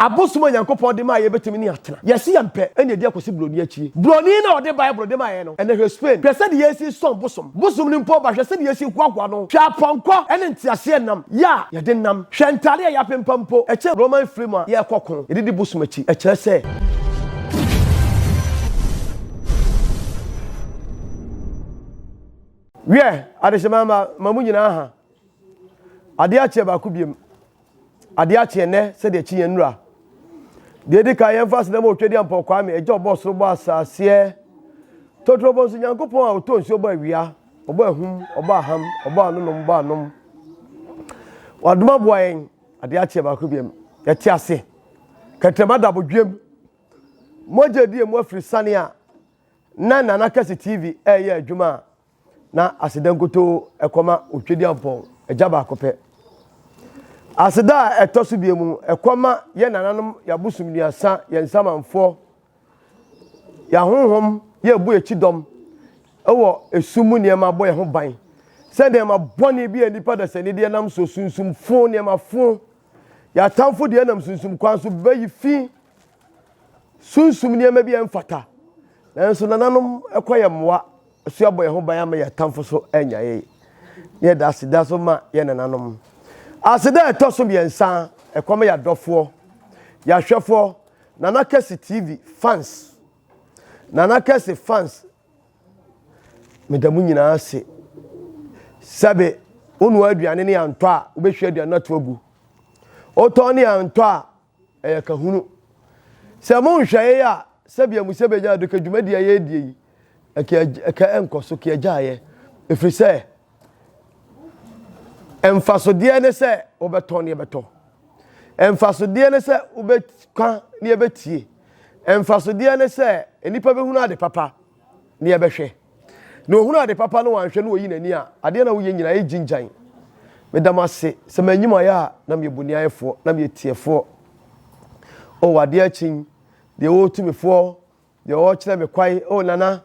Abosom a Nyankopɔn de maa yɛn betumi ne atena. Yɛasi yɛn pɛ na edi akosi buroni akyi. Buroni no a ɔde Bible de mae no. Ɛnɛ hwɛ Spain, hwɛ sɛdeɛ yɛsi sɔn bosom, bosom no mpo ɔba hwɛ sɛdeɛ yɛsi hoahoa no, hwɛ apɔnkɔ ne nteaseɛ nam yɛ a yɛde nam, hwɛ ntaade a yɛapempa mpo, ɛkyɛn Roman mfiri mu a yɛrekɔ ko, yɛde di bosom akyi, ɛkyerɛ sɛ. Wiɛ, adehyema mma, ma mo nyinaa ha. Adeɛ akyeɛ baako biom. Adeɛ akye ɛnnɛ sɛdeɛ kyineɛ nnura. Deɛ ɛdi kan yɛmfa aseda ma Otwadiampɔn Kwame, Agya ɔbɔɔ soro bɔɔ asaaseɛ. Totorobɔ nso Nyankopɔn a ɔtɔ nsuo bɔ awia, ɔbɔ ahum, ɔbɔ aham, ɔbɔ anonom, bɔ anom. Wadom aboa yɛn, adeɛ akyeɛ baako biam, yɛte ase. Kɛtrɛma da abodwuam. Mogya die mu afiri sane a na Nana Kɛse TV ɛreyɛ adwuma a, na aseda nkutoo ɛkɔma Otwedeampɔn, agya baako pɛ. Aseda a ɛtɔ so bie mu, ɛkɔma yɛ nananom, y'abosom nuasa, yɛ nsamanfoɔ, y'ahohom, yɛ ɛbɔ akyi dɔm, ɛwɔ esum mu nneɛma bɔ yɛ ho ban, sɛ nneɛma bɔne bi a nipa dasani deɛ nam so, sunsumfo nneɛmafo, y'atamfo deɛ nam sunsum kwan so bɛyi fi sunsum nneɛma bi a ɛmfata. Nanso nananom kɔ yɛn mmoa so abɔ yɛn ho ban ama yɛn atamfo so anya yɛn. Ne yɛda aseda so ma yɛn nananom. Aseda a ɛtɔ so mmiɛnsa, ɛkɔm yɛ adɔfoɔ, yɛahwɛfoɔ, Nana Kɛse TV fans. Nana Kɛse fans, meda mo nyinaa ase. Sɛbe, wonoa aduane ne antɔ a, wobɛhwie aduane no ato agu. Wotɔn ne antɔ a, Ɛyɛ kahunu. Sɛ mo nhwɛe a, sɛbea mu sɛ bɛnya ado ka dwumadi a yɛredie yi ka ka ɛnkɔ so ka agyaeɛ, ɛfiri sɛ mfasodeɛ ne sɛ wobɛtɔn ne yɛbɛtɔ, mfasodeɛ ne sɛ wobɛka ne yɛbɛtie, mfasodeɛ ne sɛ nnipa bɛhunu ade papa. ne yɛbɛhwɛ. Na ohunu ade papa na wanhwɛ na oyi n'ani a, adeɛ na woyɛ nyinaa yɛ gyingyan. Meda mo ase sɛ manyi mo ayɛ a na meyɛ boniayɛfoɔ, na meyɛ tiɛfoɔ. O adeɛ akyin, deɛ ɔretu me foɔ, deɛ ɔrekyerɛ me kwan, o Nana,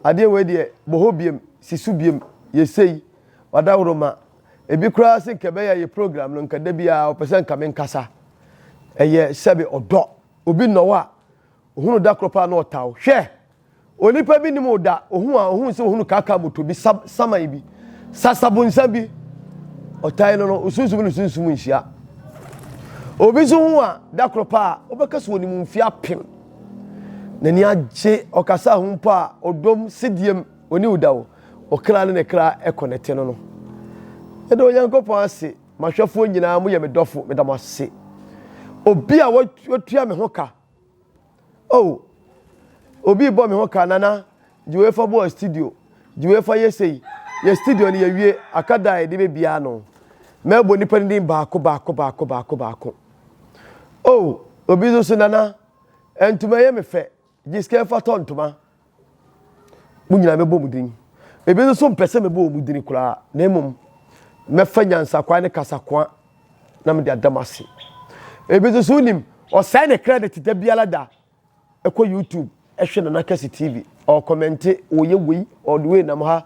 adeɛ wei deɛ, bɔ hɔ biam, si so biam, yɛ sei, w'adaworoma. Ebi koraa se nka ɛbɛyɛ a yɛ program no, nka da biara ɔpɛ sɛ nka menkasa. Ɛyɛ sɛbe ɔdɔ. Obi nnɔ wo a, Ohuu no da koro paa na ɔtaw. Hwɛ! Onipa bi nim wo da. Ohuu a ohuu sɛ ohunu kaka moto bi, sab, saman bi, sasabonsa bi. Ɔtae no no, osunsum ne sunsum nhyia. Obi nso hu a da koro paa wobɛka sɛ onim mfe apem. N'ani agye ɔkasa ho mpo a ɔdɔm sediem ɔne wo da wo. Ɔkra ne ne kra ɛkɔ nɛte no no. Meda Onyankopɔn ase, m'ahwɛfoɔ nyinaa moyɛ me dɔfo, meda mo ase. Obi a watua me ho ka. Oh, obi rebɔ me ho ka, Nana, gye wei fa bɔ studio, gye wei fa yɛ sei. Yɛ studio no yɛwie, aka da a yɛde bɛbia ano. Mɛbɔ nnipa no din baako baako baako baako baako. Oh, obi nso so, Nana, ntoma yɛ me fɛ, gye sika fa tɔ ntoma. Mo nyinaa mɛbɔ mo din. Ebi nso mpɛ sɛ mɛbɔ wɔn din koraa, na mmom mɛfa nyansakwan ne kasakoa na mede ada mo ase. Ebi nso so wonim, ɔsɛe ne credit da biara da, ɛkɔ YouTube, ɛhwɛ Nana Kɛse TV, ɔkɔmɛnte, ɔyɛ wei, ɔde wei nam ha.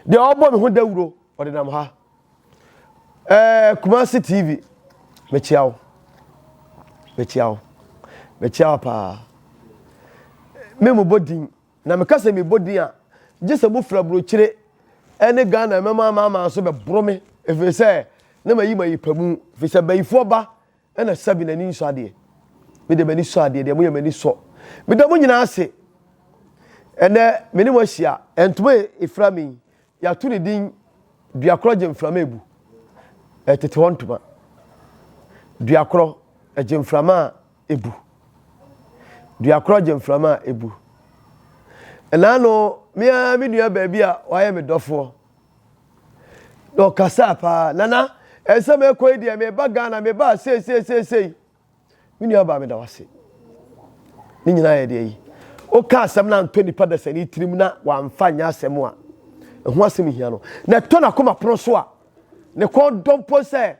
Deɛ ɔbɔ me ho dawuro, ɔde nam ha. Ɛɛ Kumasi TV, mekyia wo. Mekyia wo. Mekyia wo paa. Me mo bɔ din. Na meka sɛ mebɔ din a, gye sɛ mofiri aburokyire ne Ghana mɛma ama ama nso bɛboro me. Ɛfiri sɛ, na mayi mayi pa mu. Ɛfiri sɛ, bayifoɔ ba na sɛbi n'ani nsɔ adeɛ. Me deɛ m'ani sɔ adeɛ deɛ moyɛ m'ani sɔ. Meda mo nyinaa ase. Ɛnɛ, me ne mo ahyia. Ntoma ɛfira me yi, Yɛato ne din Duakorɔ Gyemframa Abu tete hɔ ntoma. Duakorɔ gyemframa a ebu. Duakorɔ gyemframa a ebu. Ɛnaano, me ara me nua baa bi a wayɛ me dɔfoɔ, na ɔkasaa paa, Nana, ɛnsɛ mɛkɔ yi deɛ, meba Ghana, mebaa sei sei sei sei. Me nua baa meda wase. Ne nyinaa yɛ deɛ yi. Woka asɛm na antɔ nipa dasani tirim na wamfa nyɛ asɛm a ɛho asɛm hia no. Na ɛtɔ n'akoma pono so a ne kɔn dɔ mpo sɛ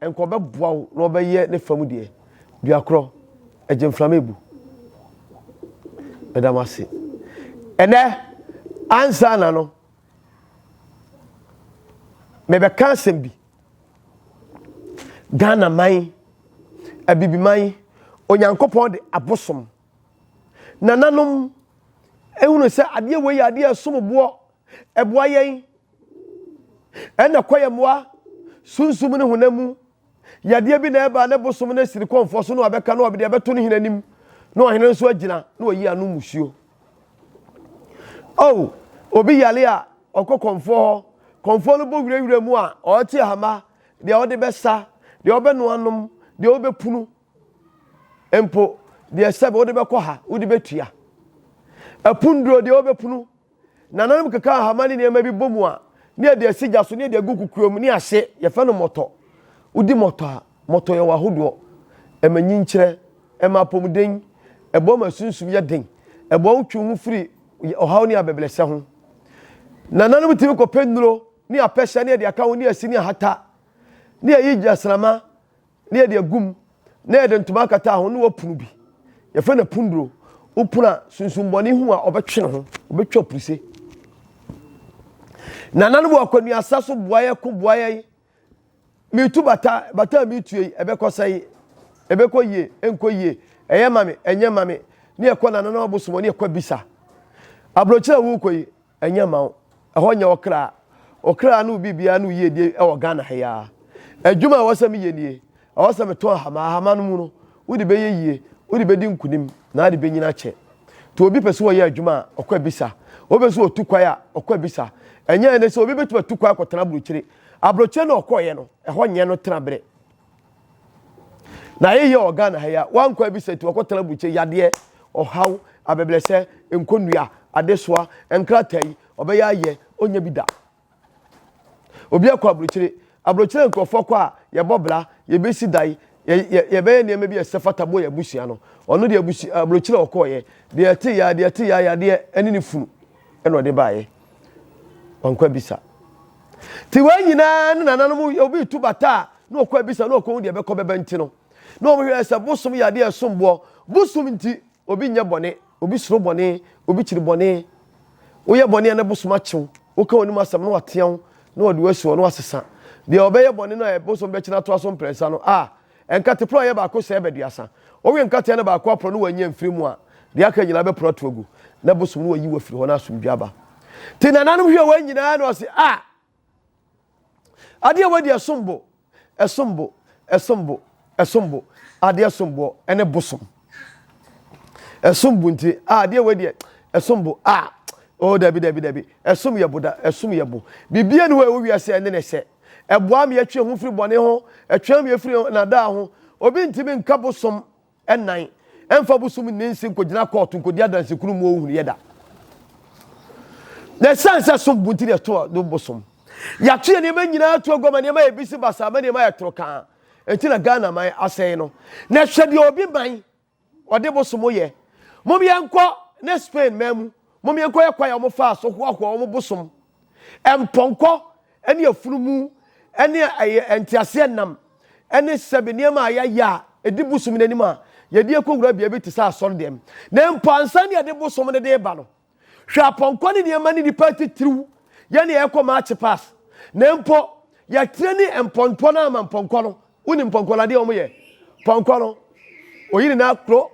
nka ɔbɛboa wo na ɔbɛyɛ ne fam deɛ. Duakorɔ, ɛgye mframa ebu. Meda mo ase. Ɛnɛ, ansa na no, mebɛka asɛm bi. Ghana man, Abibiman, Onyankopɔn de abosom. Nananom ehunu sɛ adeɛ wei yɛ adeɛ ɛsom boɔ, ɛboa yɛn, ɛna kɔ yɛn mmoa, sunsum ne honam mu. Yadeɛ bi na ɛba ne bosom no asiri kɔmfoɔ so na wabɛka na ɔde abɛto ne hene anim na ɔhene nso agyina na ɔyi ano musuo. Oh, obi yare a, ɔkɔ kɔmfoɔ hɔ. Kɔmfoɔ no bɔ wirawira mu a, ɔrete ahama, deɛ ɔde bɛsa, deɛ ɔbɛnoa nom, deɛ ɔbɛpunu mpo, deɛ sɛbe wode bɛkɔ ha, wode bɛtua. Apunduro, deɛ ɔbɛpunu. Nananom keka ahama ne nneɛma bi bɔ mu a, ne yɛde asi gya so, ne yɛde agu kukuo mu, ne ahye, yɛfrɛ no mɔtɔ. Wodi mɔtɔ a, Mɔtɔ yɛ wɔ ahodoɔ. Ɛma nyinkyerɛ. Ɛma apɔmuden. Ɛboa ma sunsum yɛ den. Ɛboa wo twe wo ho firi ɔhaw ne abɛbrɛsɛ ho. Nananom tumi kɔ pɛ nnuro ne apɛhyɛ ne yɛde aka ho ne asi ne ahata ne yɛyi gyinasrama ne yɛde agu mu na yɛde ntoma akata ho ne wɔpono bi. Yɛfrɛ no apunduro. Wo pono a sunsum bɔne hu a ɔbɛtwe ne ho. Ɔbɛtwa apuruse. Nananom wɔ akwanuasa so boa yɛn ko boa yɛn. Metu bata, bata a metua yi, ɛbɛkɔ sɛn? Ɛbɛkɔ yie, ɛnkɔ yie? Ɛyɛ ma me, ɛnyɛ ma me? Ne ɛkɔ nananom abosom hɔ, ne ɛkɔ abisa. Aburokyerɛ a worekɔ yi, ɛnyɛ ma wo. Ɛhɔ nyɛ ɔkra. Ɔkra ne wo biribiara ne wo yiedie wɔ Ghana ha yi ara. Adwuma a ɛwɔ sɛ meyɛ nie. Ɛwɔ sɛ metɔn ahama. Ahama no mu no, wode bɛyɛ yie, wode bɛdi nkunim, na ade bɛnyini akyɛ. Nti obi pɛ sɛ ɔyɛ adwuma a, ɔkɔ abisa. Obi pɛ sɛ ɔtu kwan a, ɔkɔ abisa. Ɛnyɛ ɛnnɛ sɛ obi bɛtumi atu kwan akɔtena aburokyire. Aburokyire na ɔkɔeɛ no, ɛhɔ nyɛ no tenabere. Na yɛyɛ wɔ Ghana ha yi a, wankɔ abisa nti wakɔtena aburokyire yadeɛ, ɔhaw, abɛbrɛsɛ, nkonnua, adesoa, nkrataa yi, ɔbɛyɛ ayɛ, ɔnnya bi da. Obi akɔ aburokyire. Aburokyire nkurɔfoɔ kɔ a, yɛbɔ bra, yɛbɛsi dan, yɛ, yɛ, yɛbɛyɛ nneɛma bi a ɛsɛ fata boɔ yɛn abusua no. Ɔno deɛ abusu, aburokyire a ɔkɔeɛ, deɛ ɛteeɛ ara, deɛ ɛteeɛ ara yadeɛ ne ne funu na ɔde baeɛ. Wankɔ abisa. Ti wei nyinaa ne nananom obi retu bata a na ɔkɔ abisa na ɔkɔhu deɛ ɛbɛkɔ bɛba nti no. Na wɔn hwɛ sɛ bosom yɛ adeɛ ɛsom boɔ. Bosom nti obi nyɛ bɔne, obi soro bɔne, obi kyiri bɔne. Woyɛ bɔne a na bosom akyew, woka wɔn anim asɛm na watea wo na wɔde wo asi hɔ na wasesa. Deɛ ɔbɛyɛ bɔne no a bosom bɛkyena atoa so mprɛnsa no a Nkate porɔ a ɛyɛ baako sɛɛ bɛduasa. Wowe nkateɛ no baako aporɔ na woannya mfiri mu a, deɛ aka nyinaa bɛporɔ ato agu, na bosom no wɔayi wo afiri hɔ na asomdwoeɛ aba. Nti nananom hwɛɛ wɔn nyinaa na wɔse, A! Adeɛ wei deɛ ɛsom bo, ɛsom bo, ɛsom bo, ɛsom bo, adeɛ som boɔ, ɛne bosom. Ɛsom bo nti, a adeɛ wei deɛ ɛsom bo, a o dabi dabi dabi, ɛsom yɛ bo da, ɛsom yɛ bo. Biribiara ni hɔ a ɛwɔ wiase a ɛne ne sɛ. Ɛboa me atwe ho firi bɔne ho, ɛtwɛn me firi nnaadaa ho. Obi ntumi nka bosom nnan mfa bosom nni nse nkɔgyina kɔɔto nkɔdi adanse kunu mu ɔhunuiɛ da. Na ɛsiane sɛ som bo nti na ɛto no bosom. Yɛato yɛ nneɛma nyinaa to aguama nneɛma yɛ bisi basaa ma nneɛma yɛ toro kaa. Ɛnti na Ghana man asɛe no. Na hwɛ deɛ obi man Wɔde bosom yɛ. Mom yɛnkɔ ne Spain man mu, mom yɛnkɔ yɛ kwan a wɔfaa so hoahoa wɔn bosom, mpɔnkɔ ne afunumu ne ɛyɛ nteaseɛnam ne sɛbe nneɛma a yɛayɛ a ɛdi bosom no anim a yɛde akɔwura beae bi te sɛ asɔre dɛm. Na mpo ansa na yɛde bosom no de reba no, Hwɛ apɔnkɔ ne nneɛma ne nnipa atitiriw yɛ ne yɛkɔ maakye pass na mpo yɛtrɛ ne mpɔmpɔ no ama mpɔnkɔ no wonim mpɔnkɔ no adeɛ wɔn yɛ pɔnkɔ no oyi ne n'akoro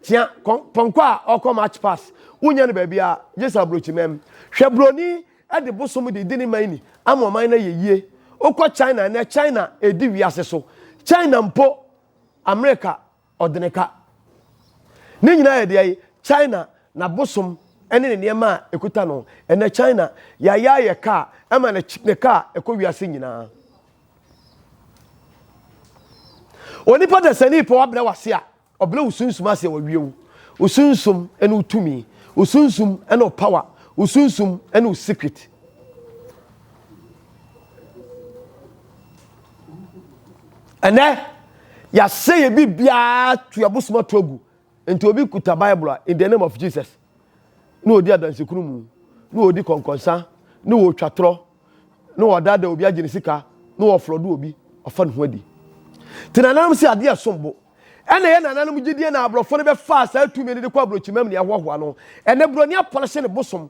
tia pɔnkɔ a ɔkɔ match pass wonya no baabi a gye sɛ aburokyi mɛm hwɛ buroni de bosom de di ne man ni ama ɔman no yɛ yie wokɔ china ɛnɛ china ɛdi wiase so china mpo amerika Ɔdeneka. Ne nyinaa yɛ deɛ China n'abosom ne ne nneɛma a ɛkuta no. Ɛnnɛ China yɛayɛ ayɛ kaa ɛma no ne kaa ɛkɔ wiase nyinaa. Onipa dasani pɛ wabrɛ wase a, ɔbrɛ wo sunsum ase a wawie wo. Wo sunsum ne wo tumi. Wo sunsum ne wo power. Wo sunsum ne wo secret. ɛnɛ yɛasɛ yɛ biribiara to abosom ato agu nti obi kuta bible a in the name of jesus na ɔdi adansekunu mu na ɔdi kɔnkɔnsa na ɔtwa torɔ na ɔdaadaa obi agye ne sika na ɔflɔ do obi ɔfa ne ho adi te nananom sɛ adeɛ ɛsom bo ɛna yɛ nananom gyidie na aborɔfo no bɛfaa saa tumi no de kɔ aburokyimam ne ɛhoahoa no ɛnɛ buroni apɔlehye ne bosom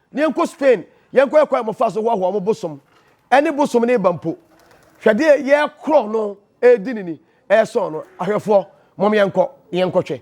Na yɛnkɔ Spain, yɛnkɔyɛ kwan a wɔfa so hoahoa wɔn bosom ne bosom no ba mpo. Hwɛ deɛ yɛrekorɔn no redi no ni, ɛresɔn no. Ahwɛfoɔ, mom yɛnkɔ na yɛnkɔhwɛ.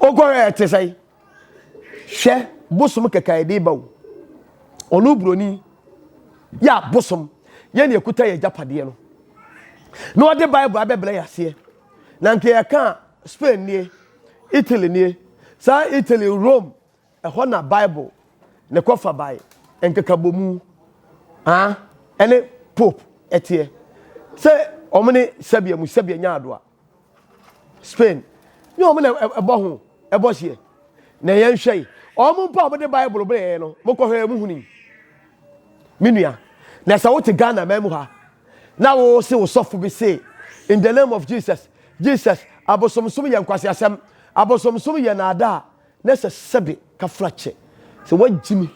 wokɔhwɛ ɛte sɛ hwɛ bosom kɛkɛ a ɛde ba o ɔno buroni yɛ abosom yɛ ne ɛkuta yɛ agyapadeɛ no na ɔde bible abɛbrɛ yɛ aseɛ na nka yɛka spain nie italy nie saa italy rome Ɛhɔ na Bible ne kɔfabae nkekabomu aa ɛne Pope ɛteɛ. Sɛ wɔn ne Serbia mu Serbia nya adoa, Spain ne wɔn na ɛbɔ ho ɛbɔ seɛ. Na yɛn hwɛ yi, wɔn mpo a wɔde Bible brɛ yɛn no, mo kɔhwɛ yɛn mo huni. Me nua, na sɛ wote Ghana man mu ha, na wo se wo sɔfo bi se, in the name of Jesus, Jesus, abosomsom yɛ nkwaseasɛm, abosomsom yɛ naadaa, Na ɛsɛ sɛ de kafra kyɛ sɛ woagyimi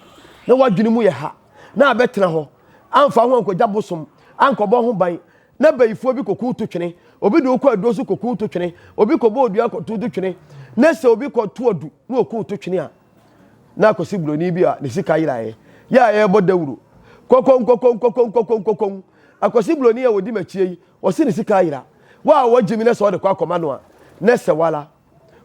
na w'adwene mu yɛ ha na abɛtena hɔ, amfa ho ankɔgya bosom, ankɔbɔ ho ban, na bayifoɔ bi kɔkuw to twene, obi de wo kɔ aduro so kɔkuw to twene, obi kɔbɔ odua kɔto to twene, na sɛ obi kɔto adu na ɔkuw to twene a, na akɔsi buroni bi a ne sika yeraeɛ yɛ a ɛrebɔ dawuro. Kɔkɔnkɔkɔnkɔkɔnkɔkɔnkɔkɔn. Akɔsi buroni a ɔdi m'akyie yi, ɔse ne sika ayera. Wo a woagyimi na sɛ wode kɔ akɔma no a, na ɛsɛ wo ara.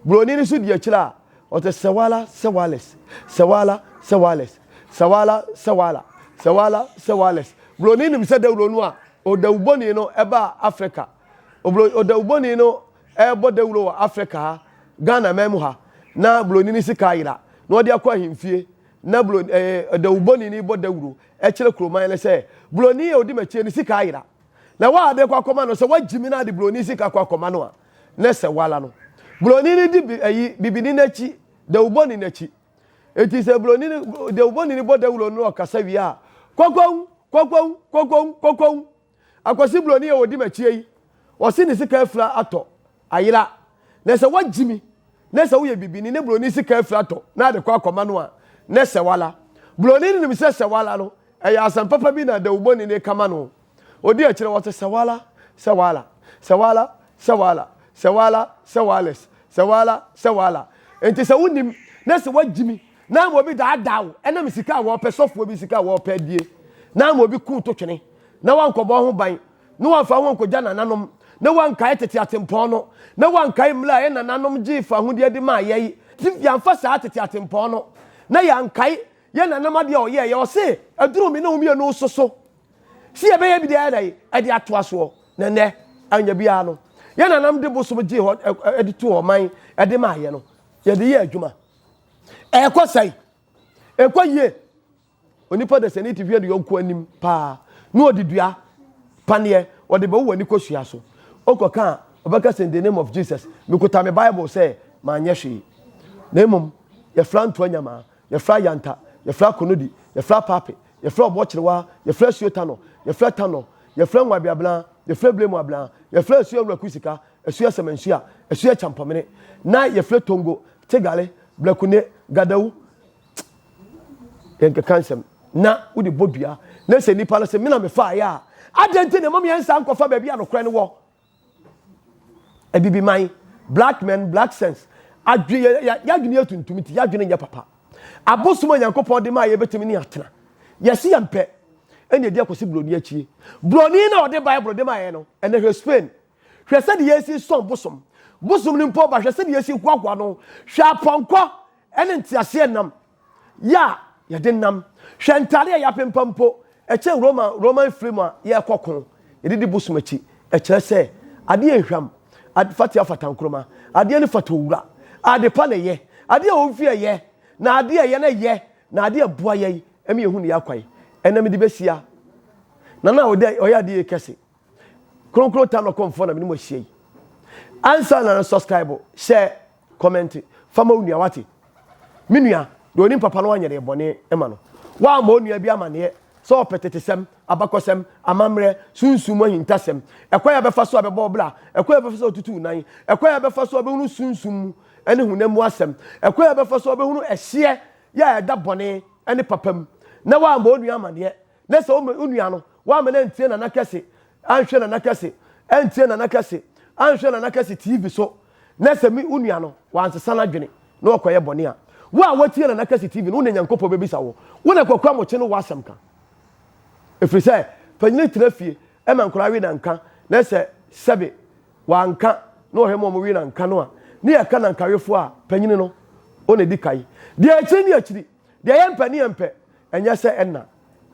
Buroni no nso di akyire a, ɔte Sewala Sewales, Sewala Sewales, Sewala Sewala, Sewala Sewales. Buroni nim sɛ dawuro no a ɔdawubɔni no ba Afrika. Ɔdawubɔni no rebɔ dawuro wɔ Afrika ha, Ghana man mu ha, na buroni no sika ayera, na ɔde akɔ ahemfie, na buroni, eh, ɔdawubɔni no rebɔ dawuro kyerɛ kuroman no sɛ, buroni a ɔdi m'akyire no sika ayera. Na wɔ a de kɔ akɔma no, sɛ wɔagyimi no ade buroni sika kɔ akɔma no a, ne sɛ woara no, Buroni no di ayi bibini no akyi, dawubɔni no akyi. Enti sɛ Buroni no, dawubɔni no bɔ dawuro no na ɔkasa wie a, Kwakwau! Kwakwau! Kwakwau! Kwakwau! Akwasi Buroni a ɔdi m'akyie yi, ɔse ne sika afira atɔ, ayera. Ne sɛ woagye mi, ne sɛ woyɛ bibini ne Buroni sika afira atɔ na de kɔ akɔma no a, ne sɛ woara. Buroni no nim sɛ sɛ woara no, ɛyɛ asɛm papa bi na dawubɔni no reka ma no. Odi akyire wɔte sɛwala, sɛwala, sɛwala, sɛwala, sɛwala, sɛwales, sɛwala, sɛwala. Enti sɛ wonim na sɛ wagyimi na ama obi daadaa wo ɛnam sika a wɔpɛ, sɔfoɔ bi sika a wɔpɛ adie na ama obi kuu to twene na wankɔbɔ ho ban na wamfa ho ankɔgya nananom na wankae tete atempɔn no na wankae mmra a yɛnananom gyee fahodeɛ de maa yɛn nti yɛamfa saa tete atempɔn no na yɛankae yɛnanam adeɛ a ɔyɛɛyɛ ɔse aduru me ne wo mmienu nso so. Si yɛbɛyɛ bi deɛ na yi ɛde ato asoɔ na nnɛ anya biara no yɛn nanam de bosom gye hɔ ɛde to hɔ man ɛde ma ayɛ no yɛde yɛ adwuma ɛkɔ sɛn ɛkɔ yie onipa de sɛne ti hwɛ de yɔnko anim paa na ɔde dua paneɛ ɔde bɛwo w'ani kɔsua so ɔkɔ ka a ɔbɛka sɛ in the name of Jesus mekuta me bible sɛ manyɛ hwee na mmom yɛfra ntoa nyamaa yɛfra yanta yɛfra konodi yɛfra pape Yɛfrɛ ɔboɔ kyerewa, yɛfrɛ asuo tanɔ, yɛfrɛ tanɔ, yɛfrɛ Ngwabi abena, yɛfrɛ Blemu abena, yɛfrɛ asuo Awura Kusika, asuo Ɛsɛmɛnsua, asuo Ɛkyampɔmene, na yɛfrɛ Tongo, Tegale, Blakune, Gadawu, yɛnkeka nsɛm, na wode bɔ dua, na sɛ nnipa no se, me na mefaaeɛ a, adɛn nti na ɛma me yɛnsan nkɔfa baabi a nokorɛ no wɔ? Abibiman, black men, black sense. Adwe yɛ yɛadwene yɛ tuntum nti yɛadwene nyɛ papa. Abosom a Nyankopɔn de maa yɛ bɛtumi ne atena. Yɛsi yɛn pɛ. Ɛna ɛdi akɔsi buroni akyie. Buroni na ɔde Bible de maa yɛ no. Ɛna hwɛ Spain. Hwɛ sɛde yɛsi sɔn bosom. Bosom no mpo ba hwɛ sɛde yɛsi hoahoa no. Hwɛ apɔnkɔ ɛne nteaseɛ nam. yɛ a yɛde nam. Hwɛ ntade a yɛapempa mpo. Ɛkyɛn Roma Roma mfiri mu a yɛrekɔ ko. Yɛde di bosom akyi. Ɛkyerɛ sɛ adeɛ yɛ nhwam. Ade fatea fata nkruma. Adeɛ no fata owura. Ade pa na ɛyɛ. Adeɛ a wɔmfi ɛyɛ. Na adeɛ a ɛyɛ no yɛ. Na adeɛ a ɛboa yɛn ma yɛhunu yɛn akwan. Ɛnna mede bɛsia. Nana a ɔyɛ adeɛ yi kɛse. Kronkron Tam Akɔm foɔ na mene mo ahyia yi. Ansa na no subscribe, share, comment, fa ma onua wate. Me nua, deɛ onim papa no anyɛ deɛ bɔne ma no. Woamma onua bi amaneɛ sɛ ɔpɛ tetesɛm, abakɔsɛm, amammerɛ, sunsum mu ahintasɛm, ɛkwan a bɛfa so a bɛbɔ wo bra, ɛkwan a bɛfa so a bɛtutu wo nan, ɛkwan a bɛfa so a bɛhunu sunsum mu ne honam mu asɛm, ɛkwan a bɛfa so a bɛhunu ɛhyeɛ yɛ a ɛda bɔne ne papa mu, na woamma onua amaneɛ. na sɛ wo nua no woama no antie nana kɛse anhwɛ nana kɛse antie nana kɛse anhwɛ nana kɛse tv so na sɛ me wo nua no wansesa n'adwene na ɔkɔyɛ bɔne a wo a woatie nana kɛse tv no wo na nyankopɔn bɛbisa wo wo na kwaku amokye no woasɛm ka ɛfiri sɛ panyini tena fie ɛma nkora we na nka na sɛ sɛbe wanka na ɔhwɛ ma ɔmo we na nka no a ne yɛka nankawefoɔ a panyini no wo na di kae deɛ akyiri ne akyiri Deɛ ɛyɛ mpɛ ne ɛmpɛ. Ɛnyɛ sɛ ɛna,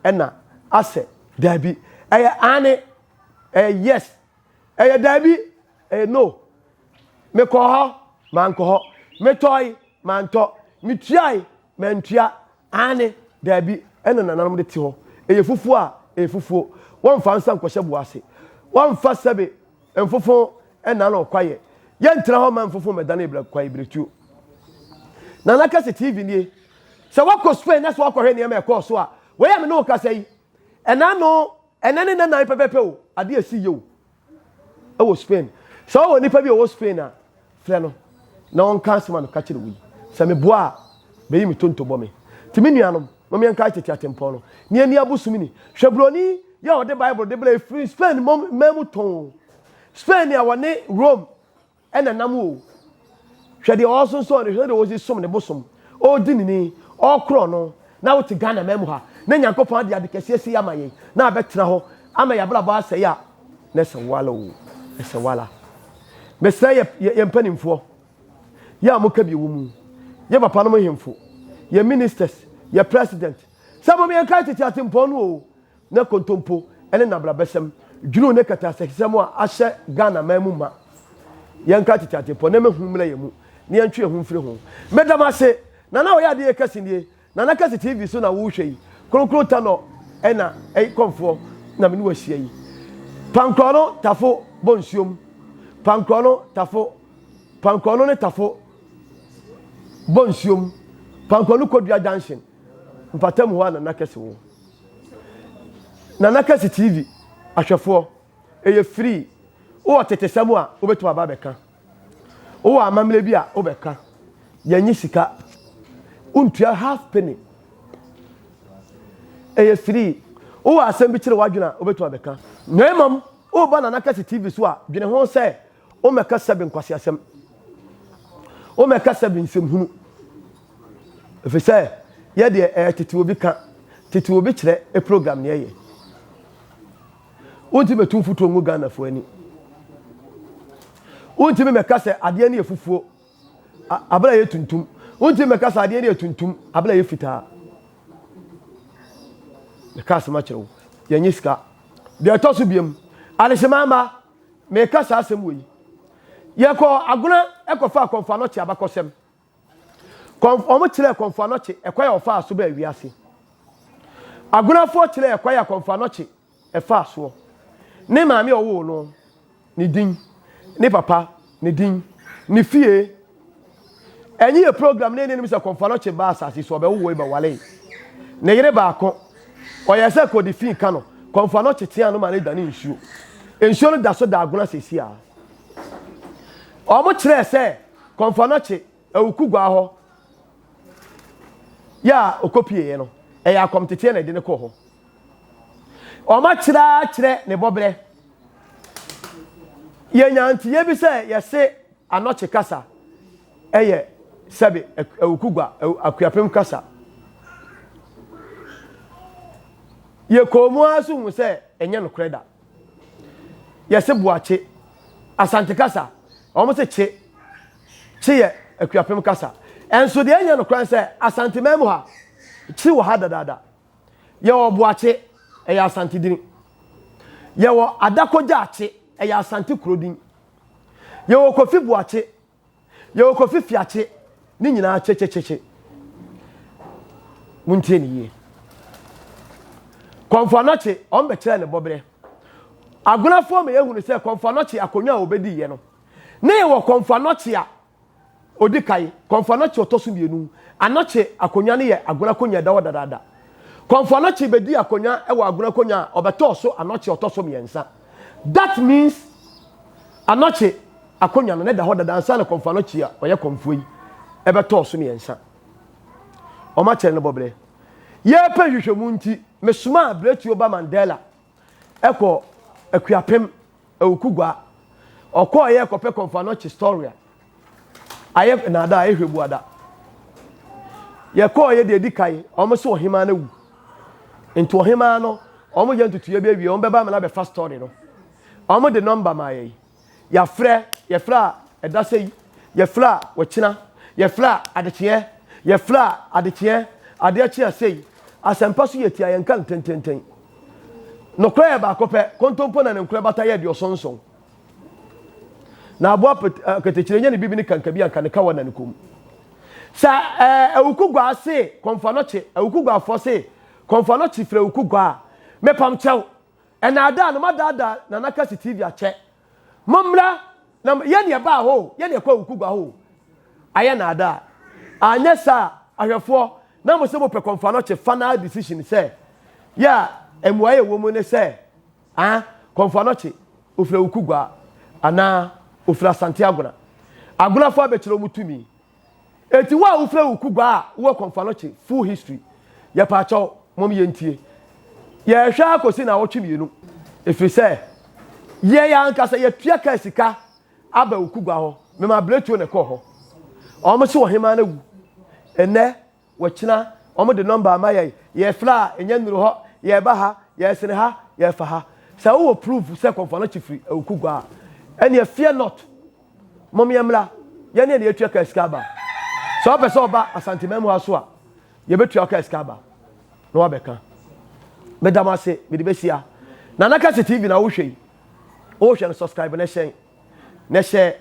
ɛna, asɛ, daabi. Ɛyɛ aane, ɛyɛ yes, ɛyɛ daabi, ɛyɛ no. Mekɔɔ hɔ, mankɔ hɔ. Metɔe, mantɔ. Metuae, mantua. Aane, daabi, ɛna nananom de te hɔ. Ɛyɛ fufuo a, ɛyɛ fufuo. Wɔmfa nsa nkɔhyɛ bo ase. Wɔmfa sɛbe Mfofo nna no ɔkwaeɛ. Yɛntra hɔ mma mfofo mmɛdane yɛn bra kwaeɛ berɛtuo. Nana Kɛse TV nie. Sɛ woakɔ Spain na sɛ woakɔhwɛ nneɛma a ɛkɔɔ so a, wei a me ne wo kasa yi, ɛna ano, ɛnɛ ne nnanan pɛpɛpɛ o, adeɛ asi yie o wɔ Spain. Sɛ wowɔ nipa bi a ɔwɔ Spain a, Frɛ no na ɔnka asɛm a meka kyerɛ wo yi. Sɛ meboa a, beyi me tonto bɔ me. Enti me nuanom, mom yɛnkae tete atempɔn no, na yɛnni abosom ni. Hwɛ buroni yi a ɔde Bible de brɛɛ firi Spain man mu tɔnn oo, Spain nea wɔne Rome na ɛnam oo. Hwɛ deɛ ɔresonsɔn no, hwɛ sɛdeɛ ɔresi som ne bosom, ɔredi ne ni, ɔrekorɔn no, na wote Ghana man mu ha, na Nyankopɔn ade ade kɛseɛ sei ama yɛn, na abɛtena hɔ ama yɛn abrabɔ asɛe a, Nɛ sɛ wala oo ɛsɛ wala. Mesrɛ yɛ yɛ mpanimfoɔ, yɛ a mo ka bi wɔ mu, yɛ papa nom hemfo, yɛ ministers, yɛ president, sɛ mom yɛn kae tete atempɔn no oo, nɛ kontompo ɛne nabrabɛsɛm, dwunu ne kataasɛkisɛm a ahyɛ Ghana man mu ma. Yɛn kae tete atempɔn nɛ mɛ hu mmrɛ yɛ mu, ne yɛn twe yɛ ho mfiri ho. Meda mo ase, Nana ɔyɛ adeɛ kɛse nie, Nana kɛse TV so na wo hwɛ yi kronkron tanɔ ɛna ɛyi kɔmfoɔ na me ne wo ahyia yi pankorɔ no tafo bɔ nsuo mu pankorɔ no tafo pankorɔ no ne tafo bɔ nsuo mu pankorɔ no kodua junction mpata mu hɔ a nana kɛse wo nana kɛse TV ahwɛfoɔ ɛyɛ free wowɔ tetesɛm a wobɛtumi aba abɛka Wowɔ amammerɛ bi a wobɛka, yɛnye sika, wontua half penny. Ɛyɛ firii. Wowɔ asɛm bi kyerɛ w'adwene a, wobɛtumi abɛka. Na mmom, woba Nana Kɛse TV so a, dwene ho sɛ wommɛka sɛbe nkwaseasɛm, wommɛka sɛbe nsɛmhunu. Ɛfiri sɛ, yɛ deɛ ɛyɛ Tete Obi Ka, Tete Obi Kyerɛ program na yɛyɛ. Wontumi metu mfutuo ngu Ghanafoɔ ani. Wontumi mɛka sɛ adeɛ no yɛ fufuo abere a yɛ tuntum. Wontumi mɛka sɛ adeɛ no yɛ tuntum abere a yɛ fitaa. Meka asɛm akyerɛ wo. Yɛnyɛ sika. Deɛ ɛtɔ so biam, adehyema mma, meka saa asɛm wɔ yi. Yɛkɔ agona ɛkɔfa akɔmfa no kye abakɔsɛm. Wɔkyerɛɛ Kɔmfoanɔkye ɛkwan a ɔfaa so baa wiase. Agonafoɔ kyerɛɛ ɛkwan a Kɔmfoanɔkye ɛfaa soɔ. Ne maame a ɔwoo no ne din, ne papa ne din, ne fie. Ɛnye yɛ program na yɛnim sɛ Kɔmfoanɔkye baa asase so, ɔbɛwowoi, bɛwalei. Ne yere baako, ɔyɛɛ sɛ kɔdi fii ka no, Kɔmfoanɔkye teaa no ma no dane nsuo. Nsuo no da so da Agona sɛsi a. Wɔkyerɛɛ sɛ Kɔmfɔnɔkye awuku gua hɔ yɛ a ɔkɔpieeɛ no, ɛyɛ akɔmteteɛ na ɛde no kɔɔ hɔ. Wɔakyerɛ akyerɛ ne bɔberɛ. Yɛnya nteeɛ bi sɛ yɛse anɔkye kasa ɛyɛ sɛbe awuku gua, akuapem kasa. Yɛkɔɔ mu ara so hu sɛ ɛnyɛ nokorɛ da. Yɛse boakye. Asante kasa, wɔn se kye. Kye yɛ Akuapem kasa. Nso deɛ ɛnyɛ nokorɛ ne sɛ Asante man mu ha, kye wɔ ha dadaada. Yɛwɔ boakye, ɛyɛ Asante din. Yɛwɔ Adakogya akye, ɛyɛ Asante kuro din. Yɛwɔ Kofi boakye, Yɛwɔ Kofi Fiakye, ne nyinaa kyekyekye. Montie ne yie. Kɔmfo Anɔkye, wɔn bɛkyerɛ ne bɔberɛ. Agonafoɔ ma yɛhunu sɛ Kɔmfo Anɔkye akonnwa a wɔbɛdiiɛ no, na yɛwɔ Kɔmfo Anɔkye a ɔdi kan, Kɔmfo Anɔkye ɔtɔ so mmienu. Anɔkye akonnwa no yɛ Agona akonnwa ɛda hɔ dadaada. Kɔmfo Anɔkye bɛdii akonnwa wɔ Agona akonnwa a ɔbɛtɔɔ so Anɔkye ɔtɔ so mmiɛnsa. That means Anɔkye akonnwa no na ɛda hɔ dada ansa na kɔmfo Anɔkye a ɔyɛ kɔmfoɔ yi ɛbɛtɔɔ so mmiɛnsa. Wɔn akyɛre no bɔbrɛ. Yɛrepɛ nhwehwɛmu nti, mesomaa Bretio ba Mandela ɛkɔ Akuapem, Awukugua. Ɔkɔɔ yɛ kɔpɛ kɔmfo Anɔkye story a Ayɛ nnaadaa, ayɛ hwɛbuada. Yɛkɔɔ yɛ deɛ ɛdi kan, wɔn so ɔhemaa no awu. Nti ɔhemaa no, wɔn yɛ ntutuiɛ bi awie, wɔn bɛba ama no abɛfa story no. Wɔn de nɔmba maa yɛn. Yɛafrɛ, yɛfrɛ a ɛda sɛ yi, yɛfrɛ a wɔkyena, yɛfrɛ a adekyeɛ, yɛfrɛ a adekyeɛ, adeɛ kye a sei. Asɛmpa so yɛtia, yɛnka no tententen. Nokorɛ yɛ baako pɛ, kontompo na ne nkorɛ bata yɛ aduɔsɔn nson. Na aboa ketekyerɛ nya ne bibi ne kanka bi anka ne kawa na ne kom. Sa eh, awuku gua se kɔnfa no kye, awuku gua fɔ se kɔnfa no kye fira awuku gua. Me pam kyɛw. Ɛna ada no madaada na naka si TV akyɛ. Mo mmra na yɛ ne ɛba ho, yɛ ne ɛkɔ awuku gua ho. Ayɛ na ada. Anyɛ sa ahwɛfoɔ na mo se mo pɛ kɔnfa no kye final decision sɛ, yeah, ɛmuaye wɔ mu ne sɛ, Aa Kɔmfo Anɔkye ofiri Awuku Gua anaa ofiri Asante Agona. Agonafo abɛkyerɛ wɔn tumi. Enti wo a wofiri Awuku Gua a wowɔ Kɔmfo Anɔkye full history, yɛpaakyɛw mom yɛntie. Yɛrehwɛ ara kɔsi naawɔtwe mmienu efiri sɛ yɛn yɛn ankasa yɛtua kaa sika aba Awuku Gua hɔ. Mema abiretuo na ɛkɔɔ hɔ. Wɔn se ɔhemaa no awu. Nnɛ Wɔkyena wɔn de nɔmba ma yɛn, yɛfla a, ɛnyɛ nnuru hɔ, yɛba ha, yɛsene ha, yɛfa ha. Sɛ wowɔ proof sɛ Kɔmfoa no kye firi Awukugua a, ɛneɛ fear not, mom yɛmmra, yɛneɛ na yɛtua kaa sika aba. Sɛ wopɛ sɛ woba Asanteman mu ha nso a, yɛbɛtua wo kaa sika aba na woabɛka. Meda mo ase, mede bɛsi ha. Nana Kase TV na wohwɛ yi, wohwɛ no, subscribe na hyɛn. Nɛ hyɛ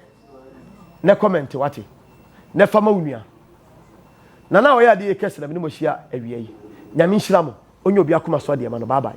nɛ kɔmɛnte wate. Nɛ fa ma wo nua. Nana a ɔyɛ adeɛ yɛ kɛse na mene mo ahyia awia yi. Nyame nhyira mo. Ɔnyɛ obi akoma so adeɛ ma no. Bye bye.